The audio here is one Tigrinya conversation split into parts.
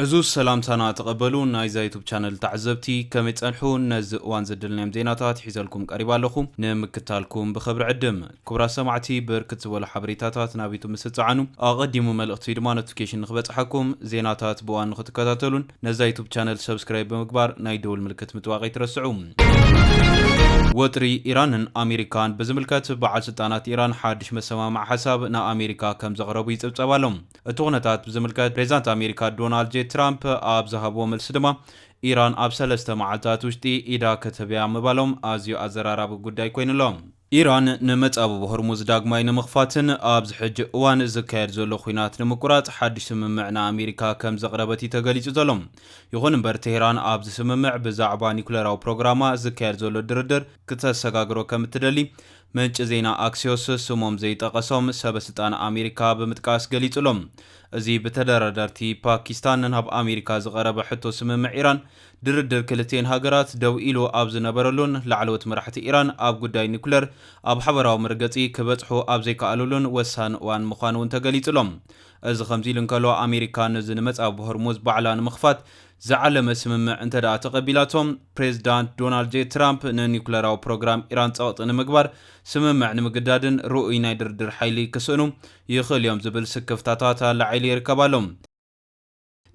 ዕዙዝ ሰላምታና ተቐበሉ ናይዛ ዩቱብ ቻነል ተዓዘብቲ ከመይ ጸንሑ ነዚ እዋን ዘደልናዮም ዜናታት ሒዘልኩም ቀሪባ ኣለኹ ንምክታልኩም ብኽብሪ ዕድም ክቡራት ሰማዕቲ ብርክት ዝበሉ ሓበሬታታት ናብ ዩቱብ ምስ ትጸዓኑ ኣቐዲሙ መልእኽቲ ወይ ድማ ኖቲፊኬሽን ንክበጽሓኩም ዜናታት ብእዋን ንክትከታተሉን ነዛ ዩቱብ ቻነል ሰብስክራይብ ብምግባር ናይ ደውል ምልክት ምጥዋቕ ኣይትረስዑ ወጥሪ ኢራንን ኣሜሪካን ብዝምልከት በዓል ስልጣናት ኢራን ሓድሽ መሰማምዒ ሓሳብ ንኣሜሪካ ከም ዘቕረቡ ይጽብጸብ ኣሎ እቲ ኩነታት ብዝምልከት ፕሬዚዳንት ኣሜሪካ ዶናልድ ጄ ትራምፕ ኣብ ዝሃብዎ መልሲ ድማ ኢራን ኣብ ሰለስተ መዓልታት ውሽጢ ኢዳ ክትህብ'ያ ምባሎም ኣዝዩ ኣዘራራቢ ጉዳይ ኮይኑ'ሎ። ኢራን ንመፃብብ ሆርሙዝ ዳግማይ ንምኽፋትን ኣብዚ ሕጂ እዋን ዝካየድ ዘሎ ኹናት ንምቁራፅ ሓዱሽ ስምምዕ ንኣሜሪካ ከምዘቕረበት እዩ ተገሊፁ ዘሎ። ይኹን እምበር ቴህራን ኣብዚ ስምምዕ ብዛዕባ ኒኩሌራዊ ፕሮግራማ ዝካየድ ዘሎ ድርድር ክተሰጋግሮ ከምትደሊ ምንጪ ዜና ኣክሲዮስ ስሞም ዘይጠቐሶም ሰበስልጣን ኣሜሪካ ብምጥቃስ ገሊጹ'ሎ። እዚ ብተደራደርቲ ፓኪስታን ናብ ኣሜሪካ ዝቐረበ ሕቶ ስምምዕ ኢራን፣ ድርድር ክልቲኤን ሃገራት ደው ኢሉ ኣብ ዝነበረሉን ላዕለዎት መራሕቲ ኢራን ኣብ ጉዳይ ኒኩለር ኣብ ሓበራዊ መርገጺ ክበጽሑ ኣብ ዘይከኣሉሉን ወሳኒ እዋን ምዃኑ'ውን ተገሊጹ'ሎ። እዚ ከምዚ ኢሉ እንከሎ ኣሜሪካ ነዚ ንመጻብቦ ሆርሙዝ ባዕላ ንምኽፋት ዝዓለመ ስምምዕ እንተድኣ ተቐቢላቶ፣ ፕሬዝዳንት ዶናልድ ጀይ ትራምፕ ንኒኩለራዊ ፕሮግራም ኢራን ጸቕጢ ንምግባር ስምምዕ ንምግዳድን ርኡይ ናይ ድርድር ሓይሊ ክስእኑ ይኽእሉ'ዮም ዝብል ስክፍታታት ኣላዒሉ ይርከብ ኣሎ።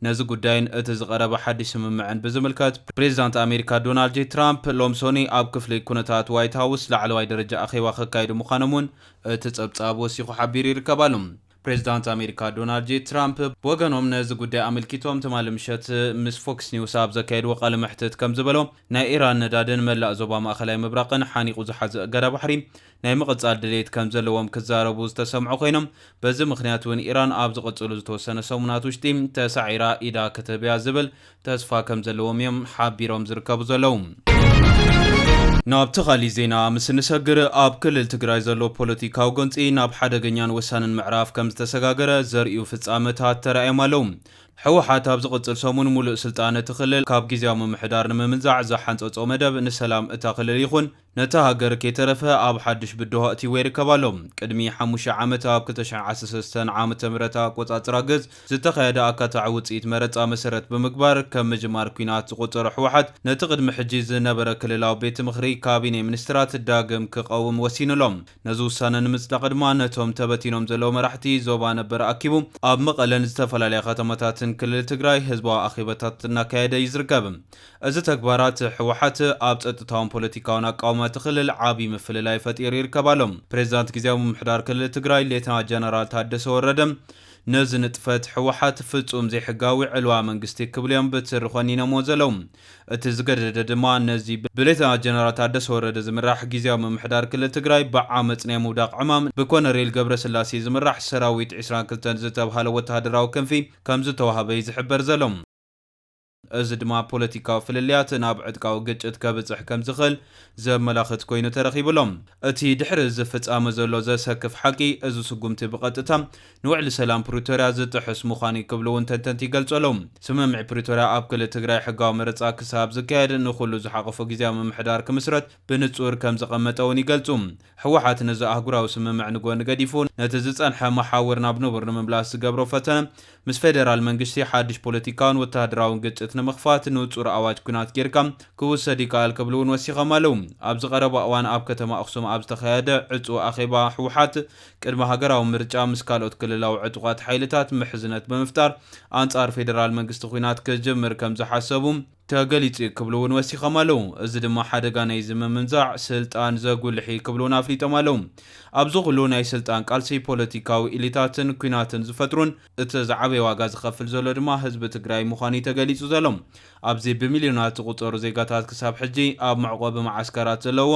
ነዚ ጉዳይን እቲ ዝቐረበ ሓድሽ ስምምዕን ብዝምልከት፣ ፕሬዝዳንት ኣሜሪካ ዶናልድ ጀይ ትራምፕ ሎም ሶኑይ ኣብ ክፍሊ ኩነታት ዋይት ሃውስ ላዕለዋይ ደረጃ ኣኼባ ከካይዱ ምዃኖም'ውን እቲ ጸብጻብ ወሲኹ ሓቢሩ ይርከብ ኣሎ። ፕሬዝዳንት ኣሜሪካ ዶናልድ ጄ ትራምፕ ብወገኖም ነዚ ጉዳይ ኣመልኪቶም ትማሊ ምሸት ምስ ፎክስ ኒውስ ኣብ ዘካየድዎ ቃለ መሕትት ከምዝበሎ ናይ ኢራን ነዳድን መላእ ዞባ ማእኸላይ ምብራቕን ሓኒቑ ዝሓዘ እገዳ ባሕሪ ናይ ምቕፃል ድሌት ከምዘለዎም ክዛረቡ ዝተሰምዑ ኮይኖም በዚ ምኽንያት እውን ኢራን ኣብ ዝቕፅሉ ዝተወሰነ ሰሙናት ውሽጢ ተሳዒራ ኢዳ ክትህብያ ዝብል ተስፋ ከም ዘለዎም እዮም ሓቢሮም ዝርከቡ ዘለዉ። ናብቲ ካሊእ ዜና ምስ እንሰግር ኣብ ክልል ትግራይ ዘሎ ፖለቲካዊ ጎንፂ ናብ ሓደገኛን ወሳንን ምዕራፍ ከም ዝተሰጋገረ ዘርእዩ ፍፃመታት ተራእዮም ኣለዉ። ህወሓት ኣብ ዝቕፅል ሰሙን ሙሉእ ስልጣን እቲ ክልል ካብ ጊዚያዊ ምምሕዳር ንምምንዛዕ ዝሓንፀፆ መደብ ንሰላም እታ ክልል ይኹን ነታ ሃገር ከይተረፈ ኣብ ሓድሽ ብድሆ ኣእቲይዎ ይርከብ ኣሎ። ቅድሚ ሓሙሽተ ዓመት ኣብ ክልተ ሽሕ ዓሰርተ ሰለስተ ዓመተ ምህረት ኣቆጻጽራ ግዝ ዝተኻየደ ኣካታዒ ውጽኢት መረጻ መሰረት ብምግባር ከም ምጅማር ኲናት ዝቖጸሮ ህወሓት ነቲ ቅድሚ ሕጂ ዝነበረ ክልላዊ ቤትምኽሪ፣ ካቢኔ ሚኒስትራት፣ ዳግም ክቐውም ወሲኑ ኣሎ። ነዚ ውሳነ ንምጽዳቕ ድማ ነቶም ተበቲኖም ዘለዉ መራሕቲ ዞባ ነበር ኣኪቡ ኣብ መቐለን ዝተፈላለያ ከተማታትን ክልል ትግራይ ህዝባዊ ኣኼበታት እናካየደ እዩ ዝርከብ። እዚ ተግባራት ህወሓት ኣብ ጸጥታውን ፖለቲካውን ኣቃውማ እቲ ክልል ዓብዪ ምፍልላይ ፈጢሩ ይርከብ ኣሎ። ፕሬዚዳንት ግዝያዊ ምምሕዳር ክልል ትግራይ ሌተና ጀነራል ታደሰ ወረደ ነዚ ንጥፈት ህወሓት ፍጹም ዘይሕጋዊ ዕልዋ መንግስቲ ክብሉ እዮም ብትሪ ኮኒነምዎ ዘለዉ። እቲ ዝገደደ ድማ ነዚ ብሌተና ጀነራል ታደሰ ወረደ ዝምራሕ ጊዚያዊ ምምሕዳር ክልል ትግራይ ብዓመፅ ናይ ምውዳቕ ዕማም ብኮነሬል ገብረስላሴ ዝምራሕ ሰራዊት ዕስራን ክልተን ዝተብሃለ ወታሃደራዊ ክንፊ ከምዝተዋሃበ እዩ ዝሕበር ዘሎ። እዚ ድማ ፖለቲካዊ ፍልልያት ናብ ዕጥቃዊ ግጭት ከብፅሕ ከምዝኽእል ዘመላኽት ኮይኑ ተረኺቡ ኣሎ። እቲ ድሕሪ እዚ ፍፃመ ዘሎ ዘሰክፍ ሓቂ እዚ ስጉምቲ ብቐጥታ ንውዕሊ ሰላም ፕሪቶርያ ዝጥሕስ ምዃኑ'ዩ ክብሉ እውን ተንተንቲ ይገልጹ ኣለው። ስምምዕ ፕሪቶርያ ኣብ ክልል ትግራይ ሕጋዊ መረጻ ክሳብ ዝካየድ ንኹሉ ዝሓቖፈ ግዝያዊ ምምሕዳር ክምስረት ብንጹር ከም ዘቐመጠ እውን ይገልጹ። ህወሓት ነዚ ኣህጉራዊ ስምምዕ ንጎኒ ገዲፉ ነቲ ዝጸንሐ መሓውር ናብ ንቡር ንምምላስ ዝገብሮ ፈተነ ምስ ፌደራል መንግሽቲ ሓድሽ ፖለቲካውን ወተሃደራውን ግጭት ንምኽፋት ንጹር ኣዋጅ ኲናት ጌርካ ክውሰድ ይከኣል ክብሉ እውን ወሲኾም ኣለው። ኣብዚ ቀረባ እዋን ኣብ ከተማ ኣኽሱም ኣብ ዝተኻየደ ዕጹው ኣኼባ ህወሓት ቅድሚ ሃገራዊ ምርጫ ምስ ካልኦት ክልላዊ ዕጡቓት ሓይልታት ምሕዝነት ብምፍጣር ኣንጻር ፌደራል መንግስቲ ኲናት ክጅምር ከም ዝሓሰቡ ተገሊጹ'ዩ ክብሉ እውን ወሲኾም ኣለው። እዚ ድማ ሓደጋ ናይዚ ምምንዛዕ ስልጣን ዘጉልሕ እዩ ክብሉ እውን ኣፍሊጦም ኣለው። ኣብዚ ኩሉ ናይ ስልጣን ቃልሲ ፖለቲካዊ ኢሊታትን ኲናትን ዝፈጥሩን እቲ ዝዓበየ ዋጋ ዝኸፍል ዘሎ ድማ ህዝቢ ትግራይ ምዃኑ'ዩ ተገሊጹ ዘሎ። ኣብዚ ብሚልዮናት ዝቑጸሩ ዜጋታት ክሳብ ሕጂ ኣብ መዕቖቢ መዓስከራት ዘለዉዎ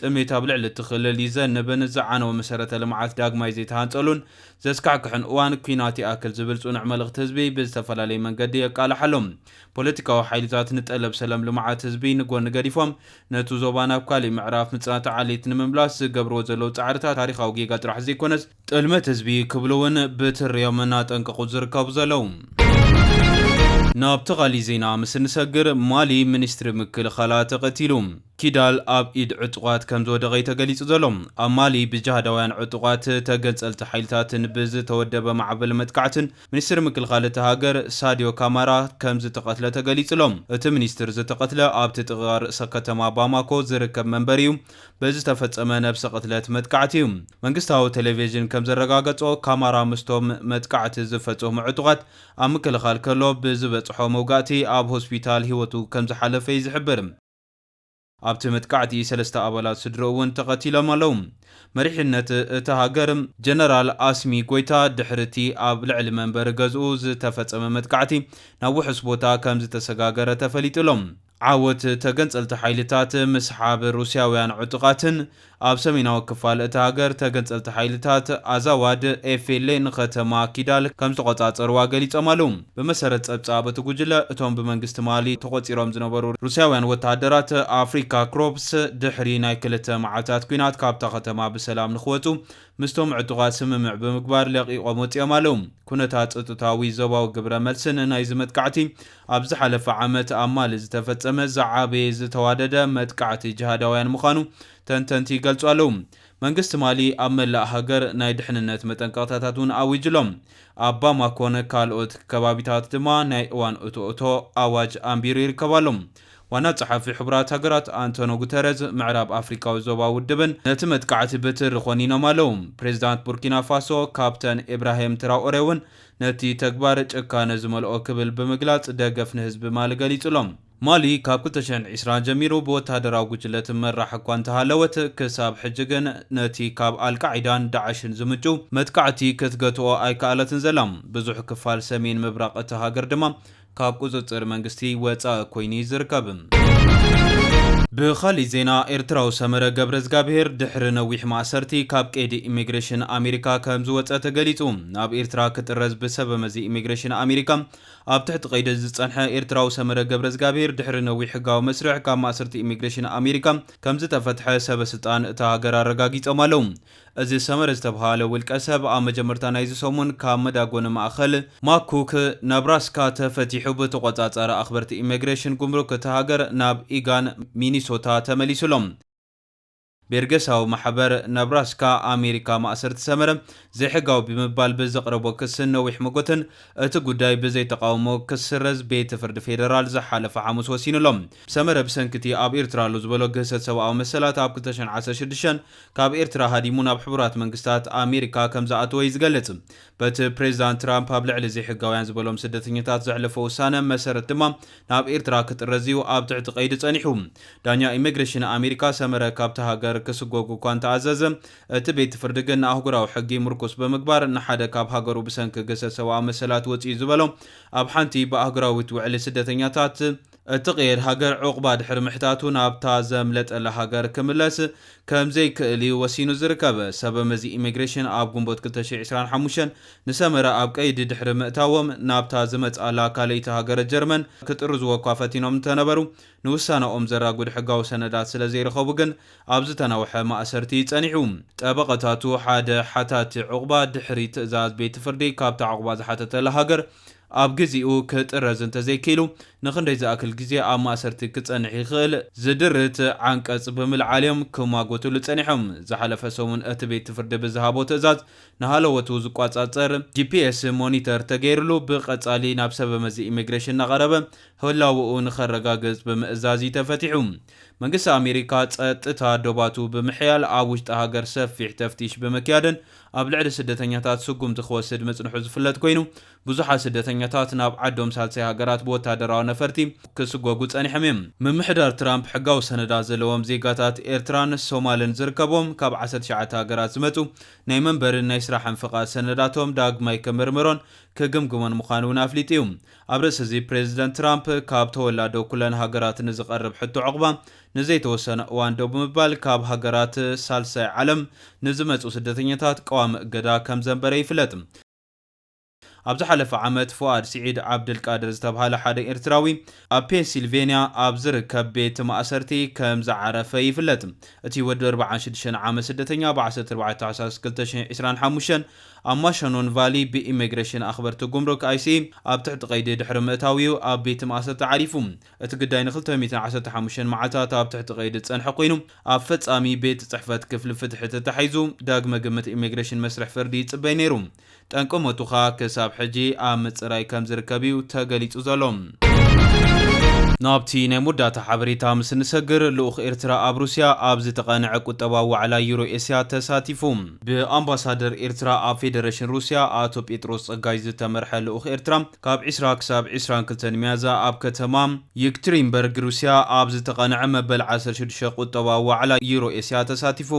ጥሜት ኣብ ልዕሊ እቲ ክልል ይዘንብን ዝዓነወ መሰረተ ልምዓት ዳግማይ ዘይተሃንጸሉን ዘስካሕክሕን እዋን ኲናት ይኣክል ዝብል ጽኑዕ መልእኽቲ ህዝቢ ብዝተፈላለየ መንገዲ የቃልሕ ኣሎ። ፖለቲካዊ ሓይልታት ንጠለብ ሰለም ልምዓት ህዝቢ ንጎኒ ገዲፎም ነቲ ዞባ ናብ ካሊእ ምዕራፍ ምጽናት ዓሌት ንምምላስ ዝገብርዎ ዘለዉ ጻዕርታት ታሪኻዊ ጌጋ ጥራሕ ዘይኮነስ ጥልመት ህዝቢ ክብሉ ውን ብትሪ ዮም እናጠንቀቑ ዝርከቡ ዘለዉ። ናብቲ ካሊእ ዜና ምስ እንሰግር፣ ማሊ ሚኒስትሪ ምክልኻላ ተቐቲሉ። ኪዳል ኣብ ኢድ ዕጡቓት ከምዝወደቐ'ዩ ተገሊጹ ዘሎ። ኣብ ማሊ ብጅሃዳውያን ዕጡቓት ተገንጸልቲ ሓይልታትን ብዝተወደበ ማዕበል መጥቃዕትን ሚኒስትሪ ምክልኻል እታ ሃገር ሳድዮ ካማራ ከምዝተቐትለ ተገሊጹ'ሎ። እቲ ሚኒስትር ዝተቐትለ ኣብቲ ጥቓ ርእሰከተማ ባማኮ ዝርከብ መንበሪ'ዩ። ብዝተፈጸመ ነብሰ ቅትለት መጥቃዕቲ'ዩ። መንግስታዊ ተሌቬዥን ከም ዘረጋገጾ፣ ካማራ ምስቶም መጥቃዕቲ ዝፈጸሙ ዕጡቓት ኣብ ምክልኻል ከሎ ብዝበጽሖ መውጋእቲ ኣብ ሆስፒታል ህይወቱ ከም ዝሓለፈ'ዩ ዝሕብር። ኣብቲ መጥቃዕቲ ሰለስተ ኣባላት ስድርኡ'ውን ተቐቲሎም ኣለዉ። መሪሕነት እታ ሃገር፣ ጀነራል ኣስሚ ጎይታ ድሕሪ'ቲ ኣብ ልዕሊ መንበሪ ገዝኡ ዝተፈጸመ መጥቃዕቲ ናብ ውሑስ ቦታ ከም ዝተሰጋገረ ተፈሊጡ'ሎ። ዓወት ተገንጸልቲ ሓይልታት ምስሓብ ሩስያውያን ዕጡቓትን ኣብ ሰሜናዊ ክፋል እታ ሃገር ተገንጸልቲ ሓይልታት ኣዛዋድ፣ FLA፣ ንከተማ ኪዳል ከምዝተቖጻጸሩዋ ገሊጾም ኣለዉ። ብመሰረት ጸብጻብ እቲ ጉጅለ፣ እቶም ብመንግስቲ ማሊ ተቖጺሮም ዝነበሩ ሩስያውያን ወተሃደራት ኣፍሪካ ክሮፕስ ድሕሪ ናይ ክልተ መዓልታት ኲናት ካብታ ከተማ ብሰላም ንኽወጹ ምስቶም ዕጡቓት ስምምዕ ብምግባር ለቒቖም ወጺኦም ኣለዉ። ኩነታት ጸጥታዊ ዞባዊ ግብረ መልስን ናይዚ መጥቃዕቲ ኣብ ዝሓለፈ ዓመት ኣብ ማሊ ዝተፈጸመ ዝዓበየ ዝተዋደደ መጥቃዕቲ ጅሃዳውያን ምዃኑ ተንተንቲ ይገልጹ ኣለዉ። መንግስቲ ማሊ ኣብ መላእ ሃገር ናይ ድሕንነት መጠንቀቕታታት እውን ኣዊጁ ኣሎ። ኣብ ባማኮን ካልኦት ከባቢታት ድማ ናይ እዋን እቶ እቶ ኣዋጅ ኣንቢሩ ይርከብ ኣሎ። ዋና ጸሓፊ ሕቡራት ሃገራት ኣንቶኖ ጉተረዝ ምዕራብ ኣፍሪቃዊ ዞባ ውድብን ነቲ መጥቃዕቲ ብትሪ ኮኒኖም ኣለዉ። ፕሬዚዳንት ቡርኪና ፋሶ ካፕተን ኢብራሂም ትራኦሬ እውን ነቲ ተግባር ጭካነ ዝመልኦ ክብል ብምግላጽ ደገፍ ንህዝቢ ማሊ ገሊጹ'ሎ። ማሊ ካብ ክልተ ሽሕን ዕስራን ጀሚሩ ብወተሃደራዊ ጉጅለ ትመራሕ እኳ እንተሃለወት፣ ክሳብ ሕጂ ግን ነቲ ካብ ኣልቃዒዳን ዳዕሽን ዝምንጩ መጥቃዕቲ ክትገትኦ ኣይከኣለትን ዘላ። ብዙሕ ክፋል ሰሜን ምብራቕ እታ ሃገር ድማ ካብ ቁፅፅር መንግስቲ ወፃኢ ኮይኑ እዩ ዝርከብ። ብኻሊእ ዜና ኤርትራዊ ሰመረ ገብረዝጋብሄር ድሕሪ ነዊሕ ማእሰርቲ ካብ ቀይዲ ኢሚግሬሽን ኣሜሪካ ከምዝወፀ ተገሊፁ። ናብ ኤርትራ ክጥረዝ ብሰበመዚ ኢሚግሬሽን ኣሜሪካ ኣብ ትሕቲ ቀይዲ ዝፀንሐ ኤርትራዊ ሰመረ ገብረዝጋብሄር ድሕሪ ነዊሕ ሕጋዊ መስርሕ ካብ ማእሰርቲ ኢሚግሬሽን ኣሜሪካ ከምዝተፈትሐ ሰበስልጣን እታ ሃገር ኣረጋጊፆም ኣለው። እዚ ሰመረ ዝተብሃለ ውልቀሰብ ኣብ መጀመርታ ናይዚ ሰሙን ካብ መዳጎኒ ማእኸል ማኩክ፣ ነብራስካ፣ ተፈቲሑ ብተቖፃፃሪ ኣኽበርቲ ኢሜግሬሽን፣ ጉምሩክ፣ እታ ሃገር ናብ ኢጋን፣ ሚኒሶታ፣ ተመሊሱ ኣሎ። ቤርገሳዊ ማሕበር ነብራስካ ኣሜሪካ ማእሰርቲ ሰመረ ዘይሕጋዊ ብምባል ብዘቕረቦ ክስን ነዊሕ መጎተን እቲ ጉዳይ ብዘይ ተቓውሞ ክስረዝ ቤት ፍርዲ ፌደራል ዝሓለፈ ሓሙስ ወሲኑ ኣሎ። ሰመረ ብሰንኪ እቲ ኣብ ኤርትራ ኣሎ ዝበሎ ግህሰት ሰብኣዊ መሰላት ኣብ ክልተ ሽሕን ዓሰርተ ሽዱሽተን ካብ ኤርትራ ሃዲሙ ናብ ሕቡራት መንግስታት ኣሜሪካ ከምዝኣተወ እዩ ዝገልጽ። በቲ ፕሬዚዳንት ትራምፕ ኣብ ልዕሊ ዘይሕጋውያን ዝበሎም ስደተኛታት ዘሕለፎ ውሳነ መሰረት ድማ ናብ ኤርትራ ክጥረዝ እዩ ኣብ ትሕቲ ቀይዲ ጸኒሑ። ዳኛ ኢሚግሬሽን ኣሜሪካ ሰመረ ካብታ ሃገር ክስጎግ እኳ እንተኣዘዘ እቲ ቤት ፍርዲ ግን ንኣህጉራዊ ሕጊ ምርኩስ ብምግባር ንሓደ ካብ ሃገሩ ብሰንኪ ግህሰት ሰብኣዊ መሰላት ወጺኡ ዝበሎ ኣብ ሓንቲ ብኣህጉራዊት ውዕሊ ስደተኛታት እቲ ቀይድ ሃገር ዑቕባ ድሕሪ ምሕታቱ ናብታ ዘምለጠላ ሃገር ክምለስ ከም ዘይክእል እዩ ወሲኑ ዝርከብ። ሰበመዚ ኢሚግሬሽን ኣብ ግንቦት ክልተ ሽሕ ዕስራን ሓሙሽተን ንሰመረ ኣብ ቀይዲ ድሕሪ ምእታዎም ናብታ ዝመጽኣላ ካልኣይቲ ሃገረ ጀርመን ክጥርዙዎ እኳ ፈቲኖም እንተነበሩ ንውሳነኦም ዘራጉድ ሕጋዊ ሰነዳት ስለ ዘይረኸቡ ግን ኣብ ዝተናውሐ ማእሰርቲ እዩ ጸኒሑ። ጠበቐታቱ ሓደ ሓታቲ ዑቕባ ድሕሪ ትእዛዝ ቤትፍርዲ ካብታ ዑቕባ ዝሓተተላ ሃገር ኣብ ግዚኡ ክጥረዝ እንተዘይክኢሉ ንኽንደይ ዝኣክል ግዜ ኣብ ማእሰርቲ ክጸንሕ ይኽእል ዝድርት ዓንቀጽ ብምልዓል'ዮም ክማጎትሉ ጸኒሖም። ዝሓለፈ ሰሙን እቲ ቤት ፍርዲ ብዝሃቦ ትእዛዝ ንሃለዎቱ ዝቆጻጸር ጂፒኤስ ሞኒተር ተገይርሉ ብቀጻሊ ናብ ሰበመዚ ኢሚግሬሽን እናቐረበ ህላወኡ ንኸረጋግጽ ብምእዛዝ'ዩ ተፈቲሑ። መንግስቲ ኣሜሪካ ጸጥታ ዶባቱ ብምሕያል ኣብ ውሽጢ ሃገር ሰፊሕ ተፍቲሽ ብምክያድን ኣብ ልዕሊ ስደተኛታት ስጉምቲ ክወስድ ምጽንሑ ዝፍለጥ ኮይኑ ብዙሓት ስደተኛታት ናብ ዓዶም ሳልሳይ ሃገራት ብወታደራዊ ነፈርቲ ክስጎጉ ጸኒሖም እዮም። ምምሕዳር ትራምፕ ሕጋዊ ሰነዳት ዘለዎም ዜጋታት ኤርትራን ሶማልን ዝርከብዎም ካብ ዓሰርተ ትሽዓተ ሃገራት ዝመጹ ናይ መንበሪን ናይ ስራሕን ፍቓድ ሰነዳቶም ዳግማይ ክምርምሮን ክግምግሞን ምዃኑ እውን ኣፍሊጡ እዩ። ኣብ ርእሲ'ዚ ፕሬዝደንት ትራምፕ ካብ ተወላዶ ኩለን ሃገራት ንዝቐርብ ሕቶ ዑቕባ ንዘይተወሰነ እዋን ደው ብምባል ካብ ሃገራት ሳልሳይ ዓለም ንዝመጽኡ ስደተኛታት ቀዋሚ እገዳ ከምዘንበረ ይፍለጥ። ኣብ ዝሓለፈ ዓመት ፉኣድ ስዒድ ዓብደልቃድር ዝተብሃለ ሓደ ኤርትራዊ ኣብ ፔንሲልቬንያ ኣብ ዝርከብ ቤት ማእሰርቲ ከምዝዓረፈ ይፍለጥ። እቲ ወዲ ኣርብዓን ሽዱሽተን ዓመት ስደተኛ ብ ዓሰርተ ኣርባዕተ ታሕሳስ ክልተ ሽሕ ዒስራን ሓሙሽተን ኣብ ማሸኖን ቫሊ ብኢሜግሬሽን ኣኽበርቲ ጉምሩክ፣ IC፣ ኣብ ትሕቲ ቀይዲ ድሕሪ ምእታዉ'ዩ ኣብ ቤት ማእሰርቲ ዓሪፉ። እቲ ግዳይ ንክልተ ሚእትን ዓሰርተ ሓሙሽተን መዓልታት ኣብ ትሕቲ ቀይዲ ዝጸንሐ ኮይኑ፣ ኣብ ፈጻሚ ቤት ጽሕፈት ክፍሊ ፍትሒ ተታሒዙ ዳግመ ግምት ኢሜግሬሽን መስርሕ ፍርዲ ይጽበይ ነይሩ። ጠንቂ ሞቱ ከኣ ክሳብ ሕጂ ኣብ ምጽራይ ከም ዝርከብ'ዩ ተገሊጹ ዘሎ። ናብቲ ናይ መወዳእታ ሓበሬታ ምስ እንሰግር፣ ልኡኽ ኤርትራ ኣብ ሩስያ ኣብ ዝተቓንዐ ቁጠባዊ ዋዕላ ዩሮ-ኤስያ ተሳቲፉ። ብኣምባሳደር ኤርትራ ኣብ ፌደረሽን ሩስያ ኣቶ ጴጥሮስ ጸጋይ ዝተመርሐ ልኡኽ ኤርትራ ካብ ዕስራ ክሳብ ዕስራን ክልተን ሚያዝያ ኣብ ከተማ የክትሪንበርግ ሩስያ ኣብ ዝተቐንዐ መበል ዓሰርተ ሽዱሽተ ቁጠባዊ ዋዕላ ዩሮ ኤስያ ተሳቲፉ።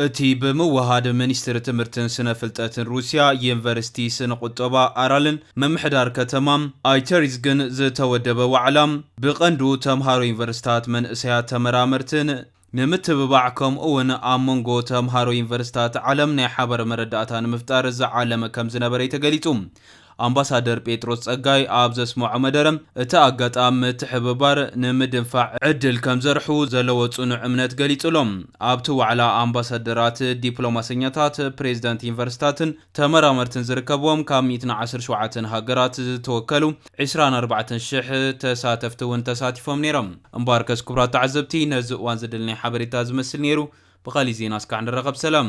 እቲ ብምውህሃድ ሚኒስትሪ ትምህርትን ስነ ፍልጠትን ሩስያ፣ ዩኒቨርሲቲ ስነ ቁጠባ ኣራልን ምምሕዳር ከተማ ኣይተሪዝግን ዝተወደበ ዋዕላ፣ ብቐንዱ ተምሃሮ ዩኒቨርሲታት፣ መንእሰያት ተመራመርትን፣ ንምትብባዕ ከምኡ'ውን ኣብ መንጎ ተምሃሮ ዩኒቨርሲታት ዓለም ናይ ሓባር መረዳእታ ንምፍጣር ዝዓለመ ከምዝነበረ'ዩ ተገሊጹ። ኣምባሳደር ጴጥሮስ ጸጋይ ኣብ ዘስመዖ መደረ፣ እቲ ኣጋጣሚ ምትሕብባር ንምድንፋዕ ዕድል ከምዘርሑ ዘለዎ ጽኑዕ እምነት ገሊጹ'ሎ። ኣብ'ቲ ዋዕላ ኣምባሳደራት፣ ዲፕሎማሰኛታት፣ ፕሬዚዳንት ዩኒቨርሲታትን፣ ተመራመርትን ዝርከብዎም ካብ ሚእትን ዓሰርተ ሸውዓተን ሃገራት ዝተወከሉ ዕስራን ኣርባዕተን ሽሕ ተሳተፍቲ እውን ተሳቲፎም ነይሮም። እምበኣርከስ ክቡራት ተዓዘብቲ ነዚ እዋን ዘደለናዮ ሓበሬታ እዚ ዝመስል ነይሩ። ብኻሊእ ዜና እስካዕ ንራኸብ ሰላም።